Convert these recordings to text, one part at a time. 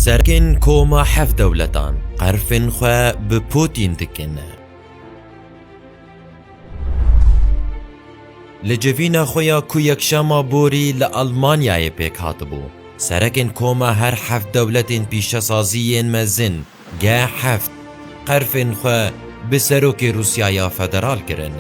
Serkên koma hev dewletan qerfên xwe bi Pûtîn dikin. Li civîna xwe ya ku yekşema borî li Elmanyayê pêk hatibû, serekên koma her heft dewletên pîşesazî yên mezin Ge heft qerfên xwe bi serokê Rûsyaya Federal kirin.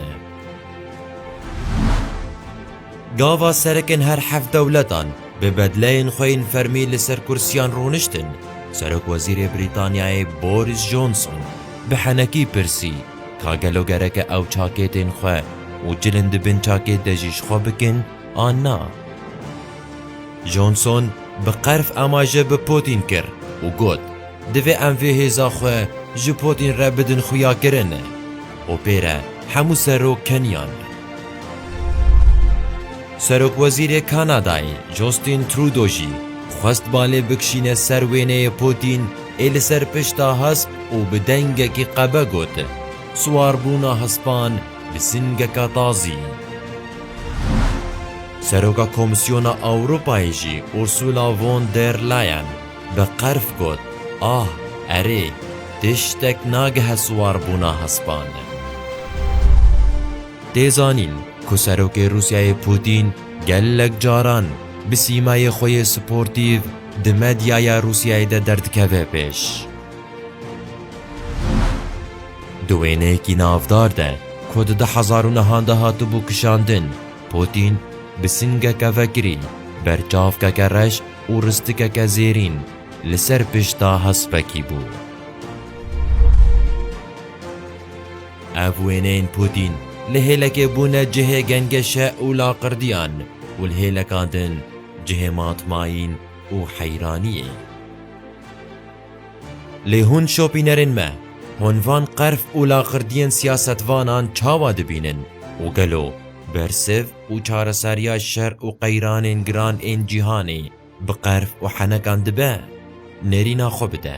Gava serekin her heft dewletan bi bedleyên xwe yên fermî li ser kursiyan rûniştin, Serokwezîrê Brîtanyayê Boris Johnson bi henekî pirsî ka gelo gereke ew çakê tên xwe û cilin di bin çakê de jî ji xwe bikin an na. Johnson bi qerf amaje bi Putin kir û got, Divê em vê hêza xwe ji Putin re bidin xuyakirin. OP'ê re hemû serok keniyan. Serokwezîrê Kanadayê Justin Trudeau jî xwest balê bikişîne ser wêneyê Putin ê li ser pişta hesp û bi dengekî qebe got, Siwarbûna hespan Bi singeka tazî, Seroka Komîsyona Ewropayê jî Ursula von der Leyen bi qerf got, Ah, erê, tiştek nagihe siwarbûna hespan. Tê zanîn ku Serokê Rûsyayê Pûtîn gelek caran bi sîmayê xwe yê sportîv di medyaya Rûsyayê de derdikeve pêş. Di wêneyekî navdar de ku di du hezar û nehan de hatibû kişandin, Pûtîn bi singeke vekirîn, berçavkeke reş û ristikeke zêrîn li ser pişta hespekî bû. Ev wêneyên Pûtîn li hêlekê bûne cihê gengeşe û laqirdiyan û li hêlekan din cihê matmayîn û heyraniyê. Lê hûn şopînerên me, hûn van qerf û laxirdiyên siyasetvanan çawa dibînin û gelo bersiv û çareseriya şer û qeyranên giran ên cîhanê bi qerf û henekan dibe? Nêrîna xwe bide.